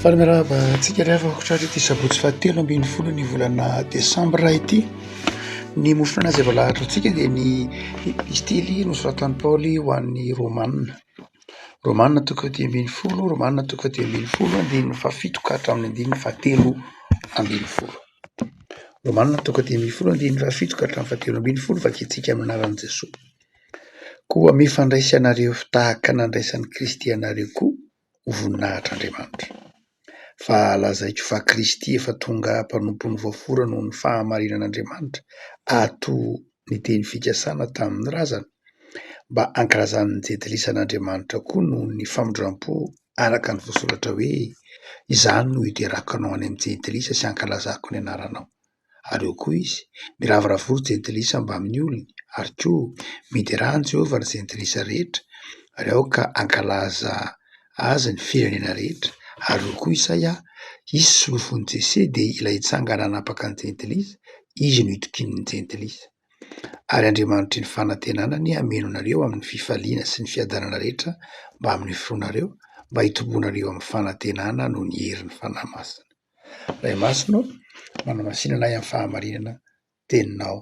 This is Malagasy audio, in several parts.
Faly miarahaba antsika ry havana ankoatra ity sabotsy fahatelo ambin'ny folo ny volana desambra ity ny mofona izay voalahatra antsika dia ny epistily nosoratan'i Paoly ho an'ny Romanina Romanina toko fahatelo ambin'ny folo Romanina toko fahatelo ambin'ny folo andininy fahafito ka hatramin'ny andininy fahatelo ambin'ny folo Romanina toko fahatelo ambin'ny folo andininy fahafito ka hatramin'ny fahatelo ambin'ny folo vakintsika amin'ny anaran'i Jesoa koa mifandraisy anareo tahaka nandraisan'i Kristy anareo koa ho voninahitr'Andriamanitra. Fa lazaiko fa Kristy efa tonga mpanompon'ny voafora noho ny fahamarinan'Andriamanitra, ato ny teny fikasana tamin'ny razana, mba hankalazan'ny jentilisa an'Andriamanitra koa noho ny famindrampo araka ny voasoratra hoe, Izany no hiderako anao any amin'ny jentilisa sy hankalazako ny anaranao. ary eo koa izy, miravoravo roa jentilisa mbamin'ny olony, ary koa miderà an'i Jehovah ry jentilisa rehetra, ary aoka hankalaza azy ny firenena rehetra, ary eo koa Isaia, Izy solofon'i Jese dia ilay hitsangana hanapaka ny jentilisa, izy no hitokian'ny jentilisa. Ary Andriamanitry ny fanantenana anie hameno anareo amin'ny fifaliana sy ny fiadanana rehetra mbamin'ny finoanareo, mba hitomboanareo amin'ny fanantenana noho ny herin'ny Fanahy Masina. Ray Masina ô, manamasina anay amin'ny fahamarinana teninao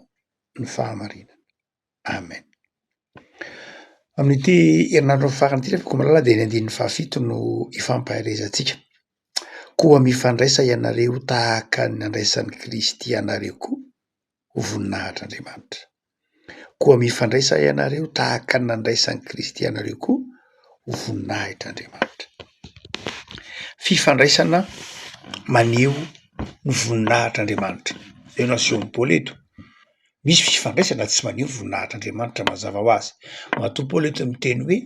ny fahamarinana. Amen. Amin'ity herinandro farany ity refa ko malala dia ny andininy fahafito no hifampaherezantsika. Koa mifandraisa ianareo tahaka ny nandraisan'i Kristy anareo koa ho voninahitr'Andriamanitra. Koa mifandraisa ianareo tahaka ny nandraisan'i Kristy anareo koa ho voninahitr'Andriamanitra. Fifandraisana maneho ny voninahitr'Andriamanitra. Eo no asehon'i Paoly eto. Misy fifandraisana tsy maneho ny voninahitr'Andriamanitra mazava ho azy. Matoa Paoly eto miteny hoe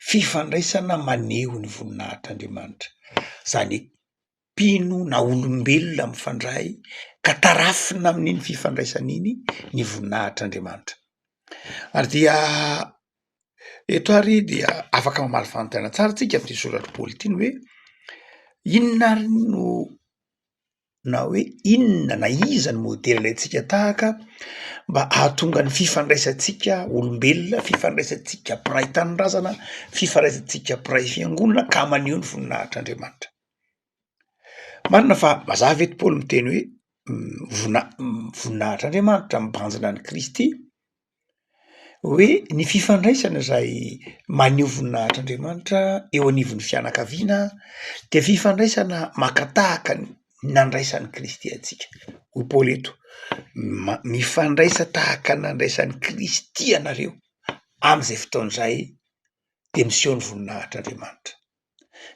fifandraisana maneho ny voninahitr'Andriamanitra. Izany hoe mpino na olombelona mifandray ka tarafina amin'iny fifandraisana iny ny voninahitr'Andriamanitra. Ary dia eto ary dia afaka mamaly fanontaniana tsara tsika amin'ity soratr'i Paoly ity ny hoe, inona ary no na hoe inona na iza no modely ilaintsika tahaka mba hahatonga ny fifandraisantsika olombelona, fifandraisantsika mpiray tanindrazana, fifandraisantsika mpiray fiangonana ka maneho ny voninahitr'Andriamanitra. Marina fa mazava eto Paoly miteny hoe vonina- voninahitr'Andriamanitra mibanjina an'i Kristy hoe ny fifandraisana izay maneho voninahitr'Andriamanitra eo anivon'ny fianakaviana de fifandraisana maka tahaka ny nandraisan'i Kristy antsika, hoy Paoly eto ma- mifandraisa tahaka ny nandraisan'i Kristy ianareo am'zay fotoana izay de miseho ny voninahitr'Andriamanitra.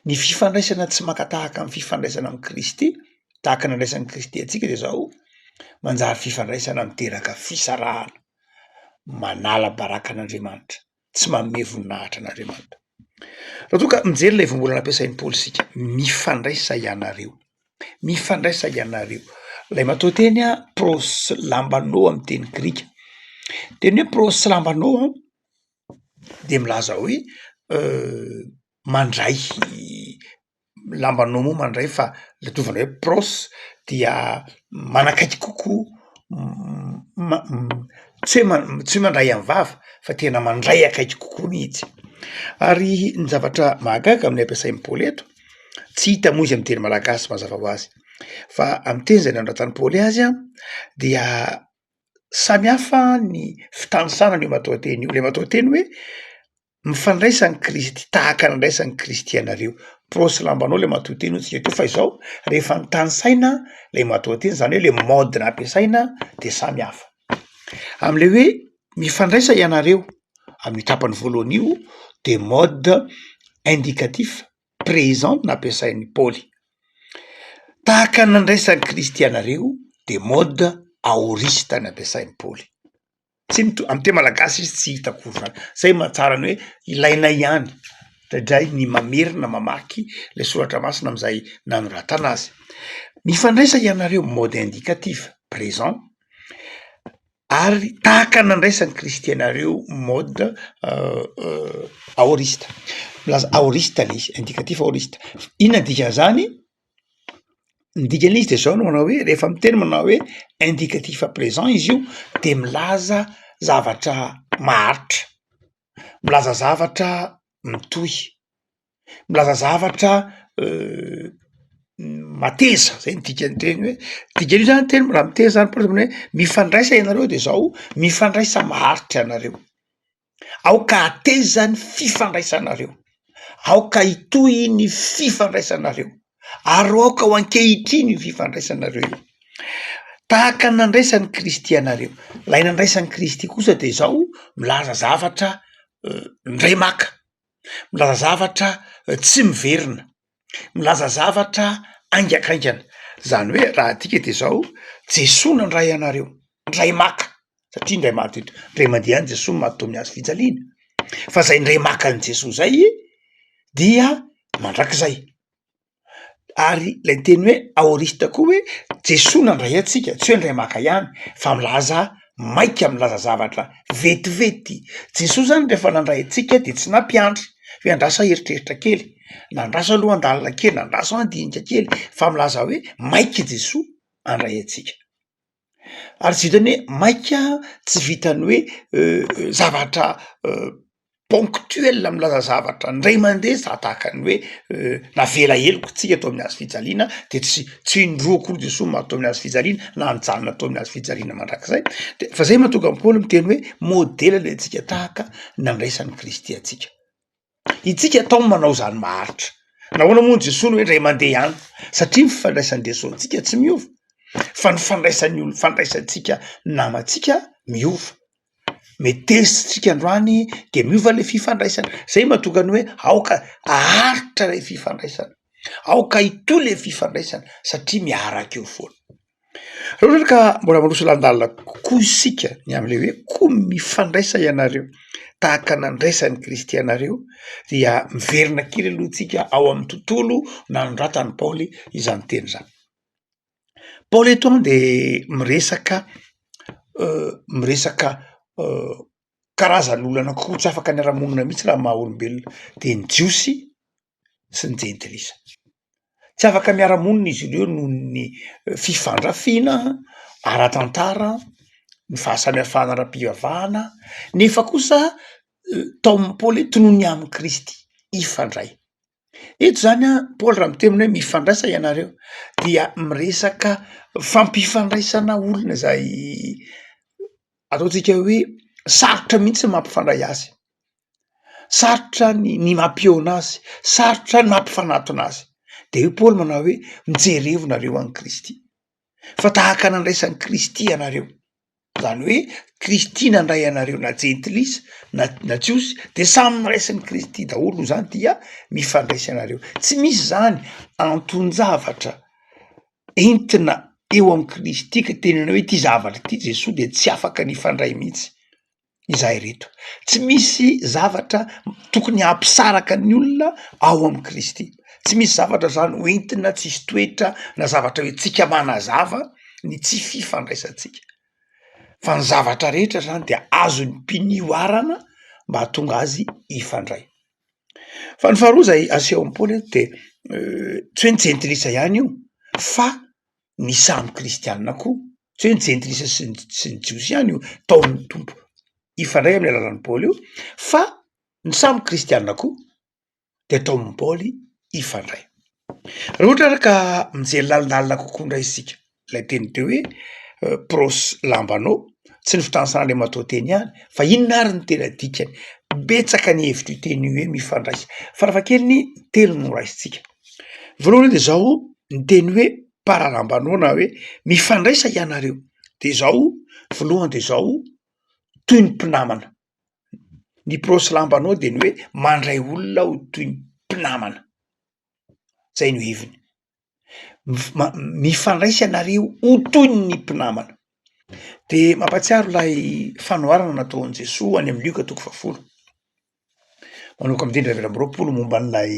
Ny fifandraisana tsy maka tahaka amin'ny fifandraisana amin'i Kristy, tahaka ny andraisan'i Kristy antsika dia izao, manjary fifandraisana miteraka fisarahana, manala baraka an'Andriamanitra, tsy manome voninahitra an'Andriamanitra. Raha toa ka mijery ilay voambolana ampiasain'i Paoly isika, mifandraisa ianareo, mifandraisa ianareo. Ilay matoanteny proslambanô amin'ny teny grika, teny hoe proslambanô a. dia milaza hoe mandray lambanao moa mandray fa ladiovana hoe prôsy dia manakaiky kokoa ma- tsy hoe ma- tsy hoe mandray am vava fa tena mandray akaiky kokoa mihitsy ary ny zavatra mahagaga amin'ny ampiasain'ny paoly eto tsy hita moa izy amy teny malagasy mazava ho azy fa amy teny zay nanratany paoly azy an dia samy hafa ny fitanisana an'io matoanteny io, le matoanteny hoe mifandraisa ny Kristy, tahaka ny andraisan'i Kristy anareo. Porofo sy lambanao le matoanteny hoy isika teo fa izao rehefa nitanisaina le matoanteny zany hoe le mode nampiasaina de samy hafa. Am'le hoe mifandraisa ianareo, am'io tapany voalohany io de mode indicatif présent no nampiasain'i Paoly. Tahaka ny nandraisan'i Kristy anareo dia mode aoriste no ampiasain'i Paoly. Tsy mitovy, amin'ny teny malagasy izy tsy hita akory izany. Izay no mahatsara ny hoe ilaina ihany indraindray ny mamerina mamaky ilay soratra masina amin'izay nanoratana azy. Mifandraisa ianareo, mode indicatif, présent, ary tahaka nandraisan'ny kristiana ireo mode aorista, milaza aorista le izy, indikatif aorista, inona ny dikan'izany? Ny dikan'izy dia zao no manao hoe rehefa miteny manao hoe indikatif present izy io de milaza zavatra maharitra, milaza zavatra mitohy. milaza zavatra mateza zay ny dikany teny hoe dikany io zany teny raha miteny zany paosy zany hoe mifandraisa ianareo de zao mifandraisa maharitra anareo aoka hateza ny fifandraisanareo aoka hitohy ny fifandraisanareo ary aoka ho ankehitriny io fifandraisanareo io tahaka ny nandraisan'i kristy anareo lay nandraisan'i kristy kosa de zao milaza zavatra ndray maka milaza zavatra tsy miverina, milaza zavatra haingankaingana. Izany hoe raha adika dia izao, Jesoa nandray anareo, indray maka, satria indray maty eto, indray mandeha any Jesoa mahadoa ny hazo fijaliana. Fa izay indray maka an'i Jesoa izay dia mandrakizay. ary lay teny hoe aorista koa hoe Jesoa nandray antsika tsy hoe ndray maka ihany fa milaza maika milaza zavatra vetivety, Jesoa zany rehefa nandray antsika de tsy nampiandry hoe andraso ah eritreritra kely na andraso ah lohan-dalina kely na andraso ah ndinika kely fa milaza hoe maika i Jesoa handray antsika. Ary zay zany hoe maika tsy vitan'ny hoe zavatra ponctuel milaza zavatra ndray mandeha za tahaka ny hoe navela heloka tsika tao amin'ny hazo fijaliana de tsy tsy indroa akory Jesoa maty tao amin'ny hazo fijaliana na nijanona tao amin'ny hazo fijaliana mandrakizay de fa zay mahatonga an'i Paoly miteny hoe modela le antsika tahaka nandraisan'i Kristy antsika. Isika atao ny manao izany maharitra. Nahoana moa Jesoa no hoe indray mandeha ihany? Satria ny fifandraisan'i Jesoa amintsika tsy miova, fa ny fandraisan'ny olona fandraisantsika namantsika miova. Mety tezitra isika androany dia miova ilay fifandraisana. Izay no mahatonga ny hoe aoka aharitra ilay fifandraisana, aoka hitohy ilay fifandraisana satria miaraka eo foana. Raha ohatra ka mbola miroso lan-dalina kokoa isika ny amin'ilay hoe koa mifandraisa ianareo tahaka nandraisan'i Kristy anareo dia miverina kely aloha tsika ao amin'ny tontolo nanoratan'i Paoly izany teny izany. Paoly eto de miresaka miresaka karazan'olona anankiroa tsy afaka niara-monina mihitsy raha maha olombelona dia ny Jiosy sy ny jentilisa. Tsy afaka miara-monina izy ireo noho ny fifandrafiana ara-tantara, ny fahasamihafana ara-pivavahana nefa kosa Tom Paoly tononiny amin'i Kristy hifandray. Eto izany Paoly raha miteny hoe mifandraisa ianareo dia miresaka fampifandraisana olona izay ataontsika hoe sarotra mihitsy ny mampifandray azy. sarotra ny ny mampihaona azy, sarotra ny mampifanatona azy, de hoy Paoly manao hoe mijerevo nareo an'i Kristy fa tahaka nandraisan'i Kristy ianareo, zany hoe Kristy nandray anareo na jentilisa na na jiosy de samy noraisin'i Kristy daholo noho zany dia mifandraisa ianareo, tsy misy zany anton-javatra entina eo amin'i Kristy ka tenenana hoe ty zavatra ty Jesoa de tsy afaka ny hifandray mihitsy. izahay ireto. Tsy misy zavatra tokony hampisaraka ny olona ao amin'i Kristy. Tsy misy zavatra izany ho entina tsisy toetra na zavatra hoe tsika manazava ny tsy fifandraisantsika fa ny zavatra rehetra izany dia azon'ny mpino ihoarana mba hahatonga azy hifandray. Fa ny faharoa izay asehon'i Paoly eto dia tsy hoe ny jentilisa ihany io fa ny samy kristianina koa tsy hoe ny jentilisa sy ny sy ny jiosy ihany io taon'ny tompo hifandray amin'ny alalan'i paoly io fa ny samy kristianina koa de taomin'i paoly hifandray raha ohatra ary ka mijery lalindalina kokoa indray isika ilay teny teo hoe prosy lambanao tsy ny fitanisan'andriamatoa teny ihany fa inona ary ny tena dikany betsaka ny hevitro teny hoe mifandraisa farafahakeliny telo no raisintsika Voalohany aloha de zao ny teny hoe par alambanao na hoe mifandraisa ianareo de zao voalohany de zao toy ny mpinamana, ny prosy lambanao de ny hoe mandray olona aho toy ny mpinamana, zay no heviny, mif- ma- mifandraisa ianareo ho toy ny mpinamana, de mampahatsiaro lay fanoharana nataon'i Jesoa any amin'ny lioka toko fahafolo. Manomboka amin'ny teny fahavalo amby roapolo momba an'ilay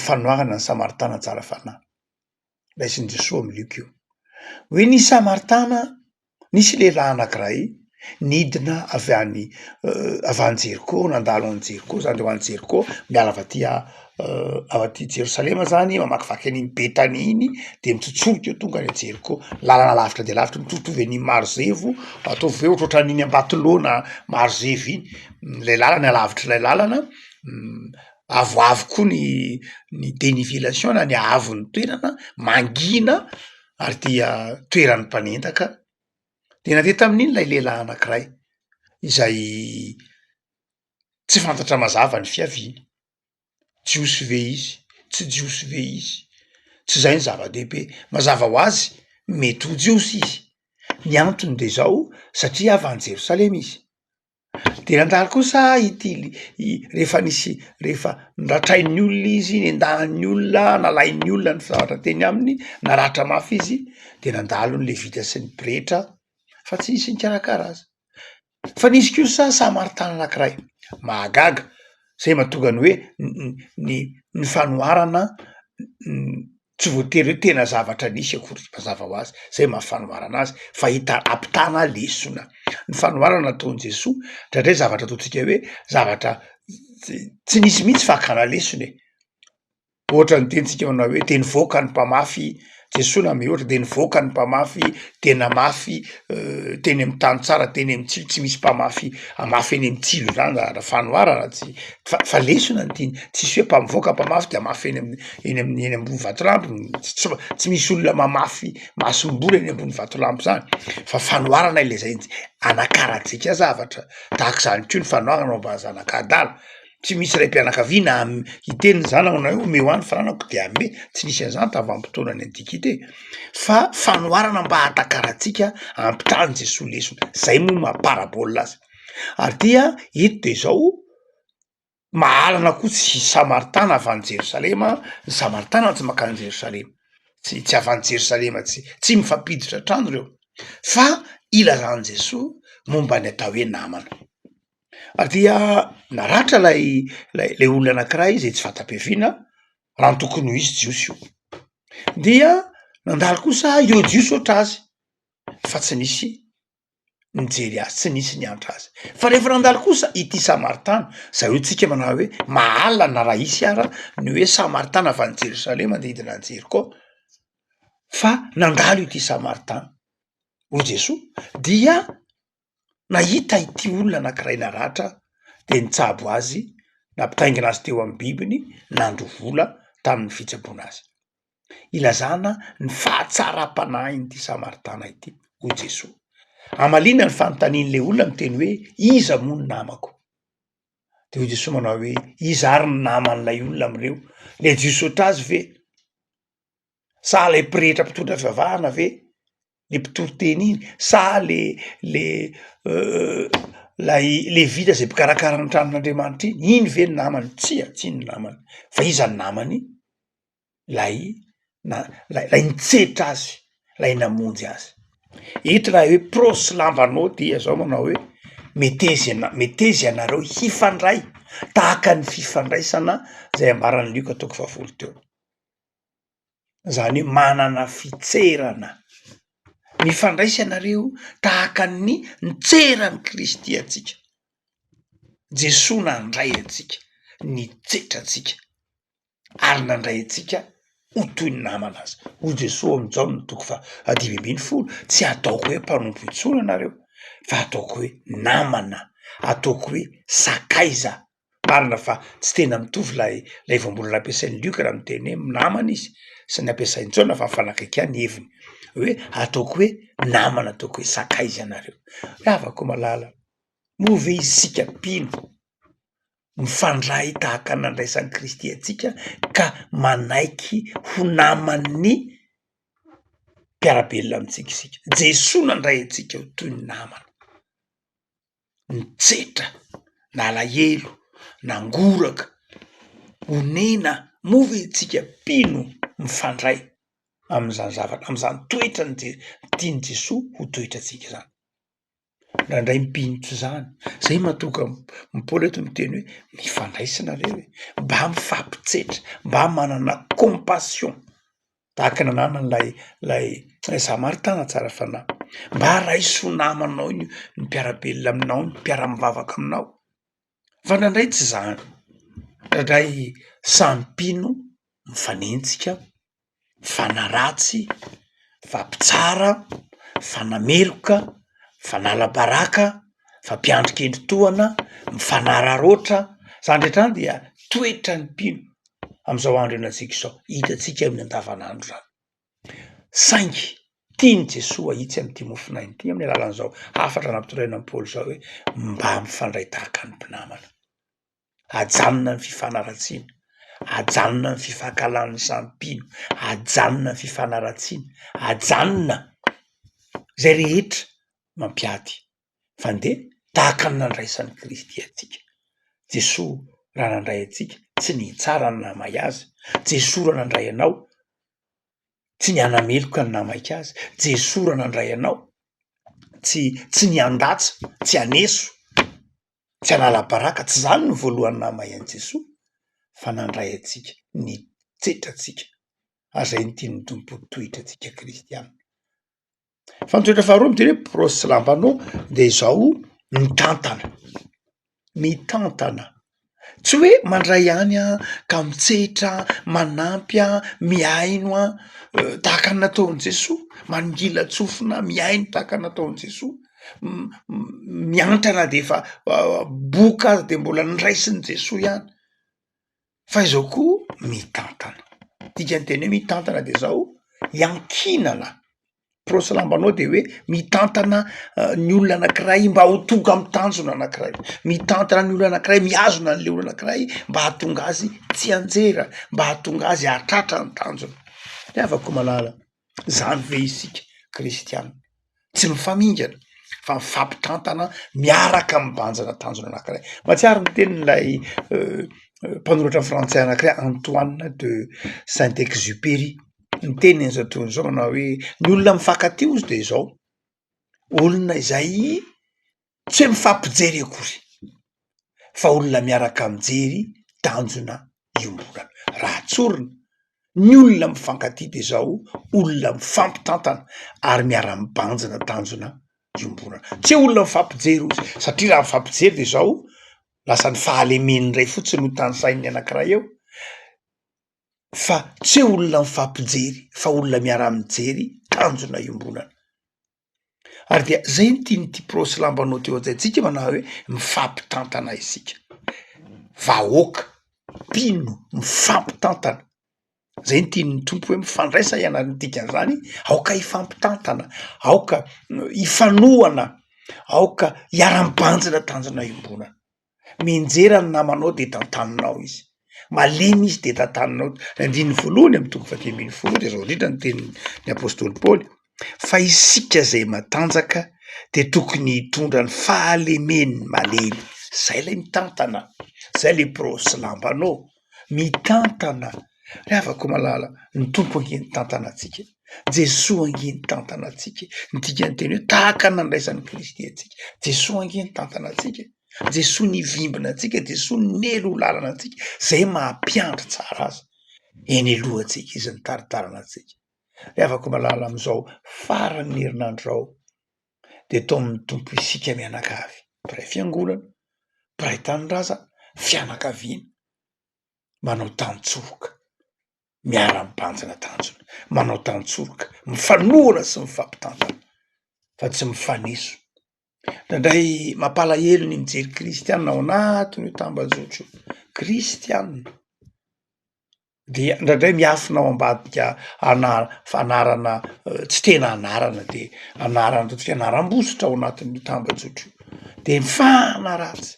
fanoharana ny Samaritana tsara fanahy. Raisin'i Jesoa amin'i Lioka io. Hoe nisy Samaritana, nisy lehilahy anankiray nidina avy any avy any Jeriko, nandalo any Jeriko zany, ho any Jeriko miala avy aty ao aty Jerosalema zany mamakivaky an'iny Betania iny de mitsotsorika eo tonga any Jeriko, lalana lavitra dia lavitra mitovitovy an'iny Marozevo, ataovy hoe ohatrohatran'iny Ambatolaona Marozevo iny ilay lalana alavitr'ilay lalana, avoavo koa ny ny denivelation na ny haavon'ny toerana, mangina ary dia toeran'ny mpanendaka, de nandeha tamin'iny ilay lehilahy anankiray izay tsy fantatra mazava ny fiaviany. jiosy ve izy, tsy jiosy ve izy, tsy zay ny zava-dehibe. Mazava ho azy mety ho jiosy izy, ny antony de zao satria avy any Jerosalema izy, de nandalo kosa ity li- i- rehefa nisy rehefa noratrain'ny olona izy, nendahan'ny olona, nalain'ny olona ny zavatra teny aminy, naratra mafy izy de nandalo ny levita sy ny pretra fa tsy nisy nikarakara azy. Fa nisy kosa samaritana anankiray mahagaga izay mahatonga ny hoe ny ny fanoharana tsy voatery hoe tena zavatra nisy akory mazava ho azy izay maha fanoharana azy fa hita ampitana lesona. Ny fanoharana nataon'i Jesoa indraindray zavatra ataontsika hoe zavatra tsy nisy mihitsy fa hakana lesona e! Ohatran'ny tenitsika manao hoe dia nivoaka ny mpamafy, Jesoa na mihoatra dia nivoaka ny mpamafy dia namafy teny amin'ny tany tsara teny amin'ny tsilo, tsy misy mpamafy hamafy eny amin'ny tsilo zany raha raha fanoharana tsy fa fa lesona ny tiany, tsisy hoe mpamivoaka mpamafy dia hamafy eny amin'ny eny amin'ny eny ambony vatolampy, ts- tsy ma- tsy misy olona mamafy masomboly eny ambony vatolampy zany fa fanoharana ilay zay, anakarantsika zavatra, tahaka izany koa ny fanoharana ao am-bahazanak'adala. tsy misy raim-pianakaviana hiteny ny zanany hoe omeo ahy ny fananako dia hanome, tsy nisy an'izany tavam-potoanan'ny antikite fa fanoharana mba hahatakarantsika hampitàn'i Jesoa lesona, zay moa maha parabole azy ary dia eto de zao mahalana koa tsy samaritana avy any Jerosalema ny samaritana tsy mankany Jerosalema tsy tsy avy any Jerosalema tsy tsy mifampiditra trano reo fa ilazan'i Jesoa momba ny atao hoe namana. dia naratra lay lay le olona anankiray zay tsy fanta-piaviana raha ny tokony ho izy jiosy io dia nandalo kosa ireo jiosy ohatra azy fa tsy nisy nijery azy tsy nisy niantra azy fa rehefa nandalo kosa ity samaritana zay hoe tsika manao hoe mahalana raha hisy ara ny hoe samaritana avy any jerosalema manodidina any jeriko fa nandalo ity samaritana hoy jesoa dia nahita ity olona anankiray naratra dia nitsabo azy, nampitaingina azy teo amin'ny bibiny, nandro vola tamin'ny fitsaboana azy. Ilazana ny fahatsaram-panahin'ity Samaritana ity hoy Jesoa. Hamaliana ny fanontanian'ilay olona miteny hoe iza moa ny namako? Dia hoy Jesoa manao hoe iza ary ny naman'ilay olona amin'ireo? Lejy hihosotra azy ve? sa lay pretra mpitondra fivavahana ve le mpitory teny iny sa le le lay levita zay mpikarakara ny tranon'Andriamanitra iny, iny ve ny namany? Tsia tsy iny ny namany fa iza ny namany? Lay na- lay lay nitsetra azy, lay namonjy azy, eto raha hoe prosy lambanao dia zao manao hoe meteza iana- meteza ianareo hifandray tahaka ny fifandraisana zay ambaran'i Lioka toko fahavolo teo. izany hoe manana fitserana mifandraisa ianareo tahaka ny nitseran'i Kristy antsika. Jesoa nandray antsika, nitsetra antsika ary nandray antsika ho toy ny namana azy. Hoy Jesoa ao amin'i Jaona toko fahadimy ambin'ny folo, tsy ataoko hoe mpanompo intsony ianareo fa ataoko hoe namana, ataoko hoe sakaiza Marina fa tsy tena mitovy ilay ilay voambolana ampiasain'i Luc raha miteny hoe namana izy sy ny ampiasain'i Ntsona fa mifanakaiky ihany ny heviny hoe ataoko hoe namana ataoko hoe sakaiza ianareo. Ravako malala, moa ve isika mpino mifandray tahaka ny nandraisan'i Kristy antsika ka manaiky ho naman'ny mpiara-belona amintsika isika? Jesoa nandray antsika ho toy ny namana. nitsetra, nalahelo, nangoraka, onena, moa ve isika mpino mifandray amin'izany zavatra amin'izany toetra ny- tian'i Jesoa ho toetrantsika izany? Indraindray mpino tsy izany, izay mahatonga an'i Paoly eto miteny hoe mifandraisa nareo e, mba mifampitsetra, mba manana compassion. Tahaka ny namany lay lay lay za maritana tsara fanahy. Mba raiso ho namanao ny ny mpiara-belona aminao, ny mpiara-mivavaka aminao fa ndraindray tsy zany, ndraindray samy mpino mifanenjika, mifanaratsy, mifampitsara, mifanameloka, mifanala baraka, mifampiandry kendry tohana, mifanararaotra, zany rehetra zany dia toetran'ny mpino. amin'izao andro ianantsika izao, hitantsika amin'ny andavanandro izany. Saingy tian'i Jesoa ahitsy amin'ity mofon'aina ity amin'ny alalan'izao hafatra nampitondraina an'i Paoly izao hoe mba mifandray tahaka ny mpinamana. Ajanona ny fifanaratsiana, ajanona ny fifankahalan'ny samy mpino, ajanona ny fifanaratsiana, ajanona izay rehetra mampiady fa ndeha tahaka ny nandraisan'i Kristy antsika. Jesoa raha nandray antsika tsy ny hitsara ny nahamay azy, Jesoa raha nandray anao tsy ny hanameloka ny nahamaika azy, Jesoa raha nandray anao tsy tsy ny handatsa, tsy haneso, tsy hanala baraka, tsy zany ny voalohany nahamay an'i Jesoa fa nandray antsika, nitsetra antsika ary zay no tian'ny Tompo ho toetrantsika Kristianina. Fa ny toetra faharoa midika hoe prosy sy lampanao de izao mitantana, mitantana tsy hoe mandray ihany an, ka mitsehitra an, manampy an, mihaino an, tahaka ny nataon'i Jesoa, mangilan-tsofina, mihaino tahaka ny nataon'i Jesoa, miantrana de efa boka aza de mbola niraisin'i Jesoa ihany. Fa izao koa mitantana, dikan'ny teny hoe mitantana de zao iankinana, prosy lambanao de hoe mitantana ny olona anankiray mba ho tonga amy tanjona anankiray, mitantana ny olona anankiray mihazona an'le olona anankiray mba hahatonga azy tsianjera, mba hahatonga azy hahatratra ny tanjona, ny havako koa malala. Izany ve isika kristiana? Tsy mifamingana fa mifampitantana miaraka mibanjina tanjona anankiray. Mahatsiaro ny tenin'ilay mpanoratra frantsay anankiray Antoine de Saint Exupery, ny teniny amin'izao tontolo izao manao hoe ny olona mifankatia hozy dia izao, olona izay Tsy hoe mifampijery akory fa olona miaraka mijery tanjona iombonana. Raha tsorina ny olona mifankatia dia izao olona mifampitantana ary miara-mibanjina tanjona iombonana. Tsy hoe olona mifampijery ozy satria raha mifampijery dia izao lasa ny fahalemen'ny iray fotsiny no tanisain'ny anankiray eo fa tsy hoe olona mifampijery fa olona miara-mijery tanjona iombonana. ary dia zay no tian'ity pro sy lambanao teo hajaintsika manao hoe mifampitantana isika vahoaka mpino mifampitantana zay no tian'ny tompo hoe mifandraisa ianareo ny dikan'izany aoka hifampitantana aoka hifanohana aoka hiara-mibanjina tanjona iombonana Mianjera ny namanao dia tantaninao izy. Malemy izy dia tantaninao. Ny andininy voalohany amin'ny toko faha dimy ambin'ny folo dia izao indrindra no tenin'ny apostoly Paoly, fa isika izay matanjaka dia tokony hitondra ny fahalemen'ny malemy. Izay ilay mitantana, izay ilay biraosy lambanao. Mitantana, ry havako malala, ny Tompo ange nitantana antsika, Jesoa ange nitantana antsika, ny dikan'ny teny hoe tahaka ny nandraisan'i Kristy antsika, Jesoa ange nitantana antsika e, Jesoa nivimbina antsika, Jesoa nely ho lalana antsika, zay maha mpiandry tsara azy, eny alohantsika izy nitaritarina antsika, ry havako malala amizao faran'ny herinandro zao, dia tao amin'ny Tompo isika mianakavy, mpiray fiangonana, mpiray tanindrazana, fianakaviana, manao tantsoroka, miara-mibanjina tanjona, manao tantsoroka, mifanohana sy mifampitantana fa tsy mifaneso. Indraindray mampalahelo ny mijery kristiana ao anatin'io tambajotra io, kristiana. dia ndraindray miafina ao ambadika ana- fanarana tsy tena anarana de anarana ataontsika anaram-bositra ao anatin'io tambajotra io de mifanaratsy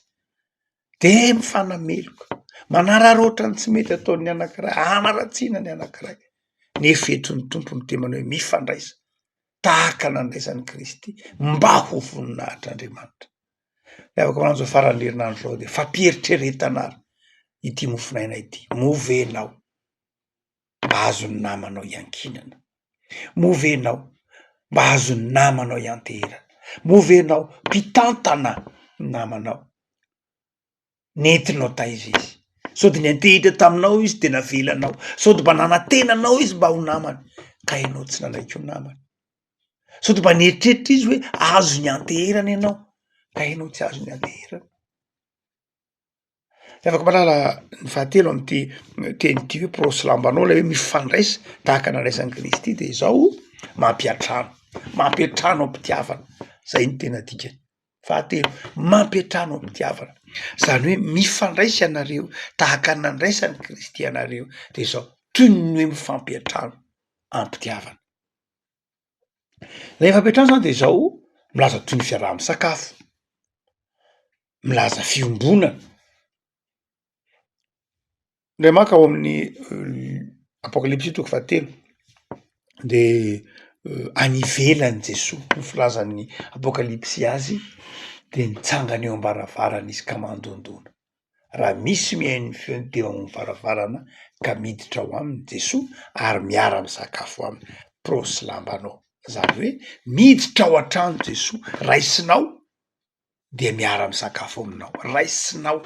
de mifanameloka manararaotra ny tsy mety ataon'ny anankiray hanaratsiana ny anankiray nefa eto ny tompo no dia manao hoe mifandraisa tahaka nandraisan'i kristy mba ho voninahitr'andriamanitra Ny afaka mananzao faran'ny herinandro zao de fampieritreretana ary ity mofonaina ity, moa ve ianao mba azon'ny namanao iankinana, moa ve ianao mba azon'ny namanao ianteherana, moa ve ianao mpitantana ny namanao. nentinao taiza izy? Sody niantehitra taminao izy de navelanao? Sody mba nanantena anao izy mba ho namany ka ianao tsy nanaiky ho namany? Sody mba nieritreritra izy hoe azo nianteherana ianao ka ianao tsy azo nianteherana? Tsy afaka mahalala ny fahatelo am'ty teny ty hoe prosy lambanao lay hoe mifandraisa tahaka nandraisan'i Kristy de izao, mampiantrano, mampiantrano am-pitiavana, zay no tena dikany. Fahatelo, mampiantrano amim-pitiavana. Izany hoe mifandraisa ianareo tahaka ny nandraisan'i Kristy anareo dia izao, toy ny hoe mifampiantrano amim-pitiavana. Ilay fampiantrana izany dia izao, milaza toy ny fiaraha-misakafo, milaza fiombonana. Ndray maka ao amin'ny apokalypsy toko fahatelo de any ivelany Jesoa no filazan'ny apokalypsy azy de nitsangana eo am-baravarana izy ka mandondona, raha misy mihaino ny feony teo amin'ny varavarana ka miditra ao aminy Jesoa ary miara-misakafo aminy, prosy lambanao, zany hoe miditra ao an-trano Jesoa, raisinao. dia miara-misakafo aminao, raisinao.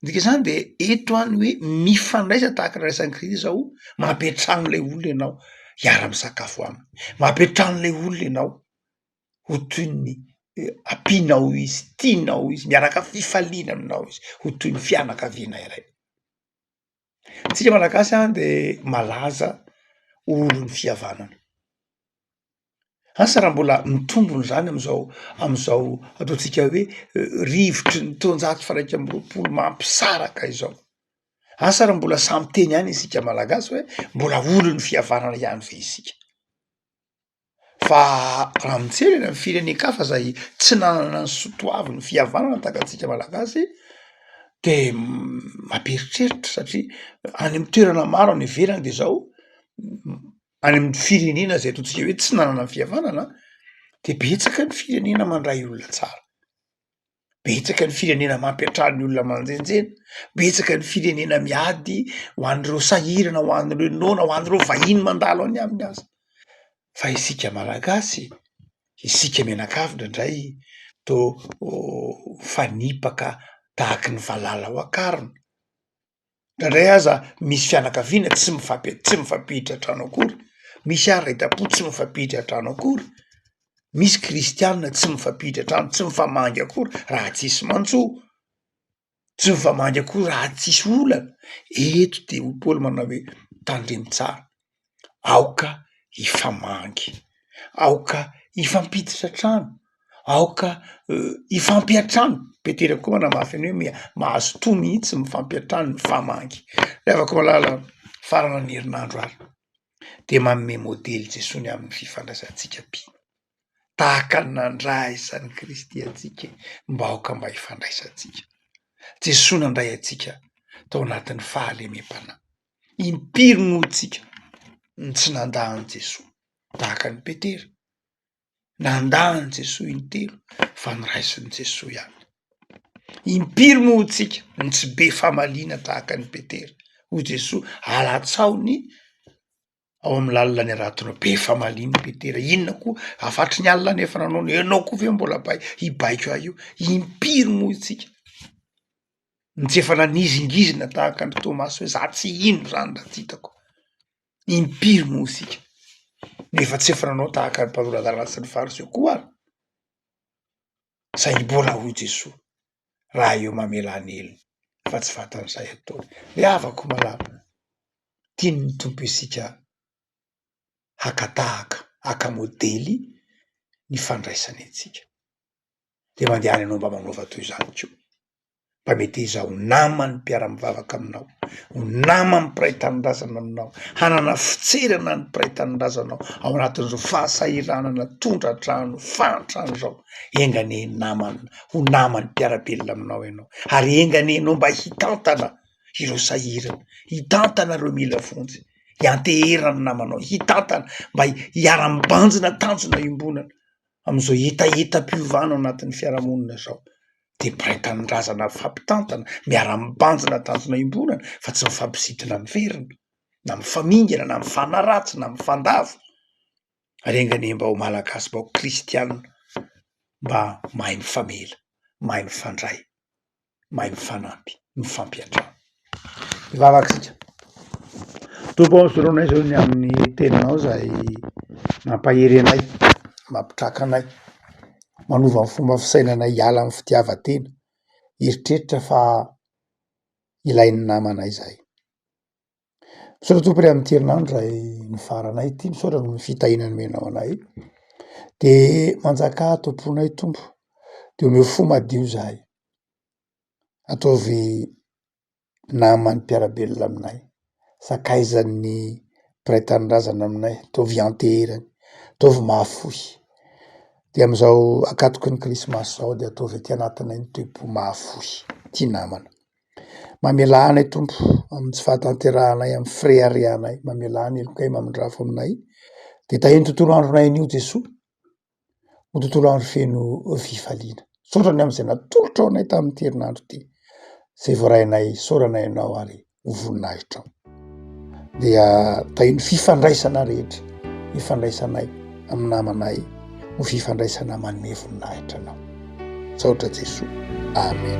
Midika izany dia eto any hoe mifandraisa tahaka ny raisan'i Kristy izao, mampy an-trano ilay olona ianao hiara-misakafo aminy, mampy an-trano ilay olona ianao ho toy ny ampianao izy, tianao izy, miaraka fifaliana aminao izy, ho toy ny fianakaviana iray. Tsika malagasy a de malaza ho olon'ny fihavanana, asa raha mbola mitombona zany am'zao am'zao ataontsika hoe rivotry ny taonjato faraika amby roapolo mampisaraka izao, asa raha mbola samy teny ihany isika malagasy hoe mbola olon'ny fihavanana ihany ve isika. Fa raha mijery any amin'ny firenen-kafa izay tsy nanana ny soa toaviny fihavanana tahaka antsika Malagasy de mampieritreritra satria any amin'ny toerana maro any ivelany de zao any amin'ny firenena izay ataontsika hoe tsy nanana ny fihavanana de betsaka ny firenena mandray olona tsara. Betsaka ny firenena mampiantrano ny olona manjenjena, betsaka ny firenena miady ho an'ireo sahirana, ho an'ireo noana, ho an'ireo vahiny mandalo any aminy aza. Fa isika Malagasy, isika mianakavy indraindray toa mifanipaka tahaky ny valala ao an-karona. Indraindray aza misy fianakaviana tsy mifampi- tsy mifampiditra an-trano akory, misy areta-po tsy mifampiditra an-trano akory, misy kristianina tsy mifampiditra an-trano, tsy mifamangy akory raha tsy misy mantso, tsy mifamangy akory raha tsy misy olana. Eto dia hoy Paoly manao hoe tandremo tsara. aoka hifamangy, aoka hifampiditra trano, aoka hifampiantrano, petera koa manamafy an'io hoe mia- mahazo toa mihitsy ny mifampiantrano, mifamangy. Revako malala faran'ny herinandro ary de manome modely Jesoa ny amin'ny fifandraisantsika be, tahaka ny nandray an'i Kristy antsika mba aoka mba hifandraisantsika, Jesoa nandray antsika tao anatin'ny fahalemem-panahy. Impiry moa tsika no tsy nandà an'i Jesoa tahaka an'i Petera? Nandà an'i Jesoa intelo fa noraisin'i Jesoa ihany. Impiry moa tsika no tsy be famaliana tahaka an'i Petera? Hoy Jesoa, alatsaho ny ao amin'ny lalina ny ara-tona be famaliana petera inona koa afatry ny alina nefa nanao ny enao koa ve mbola bay hibaiko ahy io impiry moa itsika ny tsy efa nanizingizina tahaka ny tomaso hoe za tsy hino zany raha tsy hitako impiry moa isika nefa tsy efa nanao tahaka ny mpanolora lalana sy ny fariseo koa ary zay mbola hoy jesoa raha eo mamela ny helony fa tsy vatan'izay atao ry havako malala tian'ny Tompo isika haka tahaka haka modely ny fandraisany antsika de mandehana ianao mba manaova toy izany ko mba meteza ho naman'ny mpiara-mivavaka aminao ho naman'ny mpiray tanindrazana aminao hanana fitserana ny mpiray tanindrazanao ao anatin'izao fahasahiranana tondra-drano fahantrana izao enganie namana ho naman'ny mpiara-belona aminao ianao ary enga anie ianao mba hitantana ireo sahirana, hitantana ireo mila vonjy, hiantehera ny namanao, hitantana mba hiara-mibanjina tanjona iombonana amin'izao hetahetam-piovana ao anatin'ny fiarahamonina izao dia mpray tanindrazana mifampitantana, miara-mibanjina tanjona iombonana fa tsy mifampisidina miverina na mifamingana na mifanaratsy na mifandavo. renganem-bahoaka malagasy vahoaka kristianina mba mahay mifamela, mahay mifandray, mahay mifanampy, mifampiantrano. Ny vavakitsika, Tompo ô soloy anay zao ny amin'ny teninao zay mampahery anay, mampitraka anay, manova ny fomba fisainanay hiala amin'ny fitiavan-tena, hieritreritra fa ilain'ny namanay zay. Misaotra tompoko re amin'ity herinandro zay nifaranay ity, misaotra noho ny fitahiana nomenao anay, de manjakà ato am-ponay Tompo, de omeo fo madio zahay, ataovy naman'ny mpiara-belona aminay, sakaizan'ny mpiray tanindrazana aminay, ataovy ianteherany, ataovy mahafoy, de am'zao ankatoky ny krismasy zao de ataovy aty anatinay ny toe-po mahafoy, tia namana. Mamelà anay Tompo amin'ny tsy fahatanterahanay amin'ny frais arianay mamelà ny helokay mamindrafo aminay dia tahio ny tontolo andronay anio Jesoa ho tontolo andro feno fifaliana saotra ny amin'izay natolotrao anay tamin'ity herinandro ity izay voarainay saorana ianao ary ho voninahitrao dia tay ny fifandraisana rehetra ifandraisanay amin'ny namanay ho fifandraisana manome voninahitra anao misaotra Jesoa amen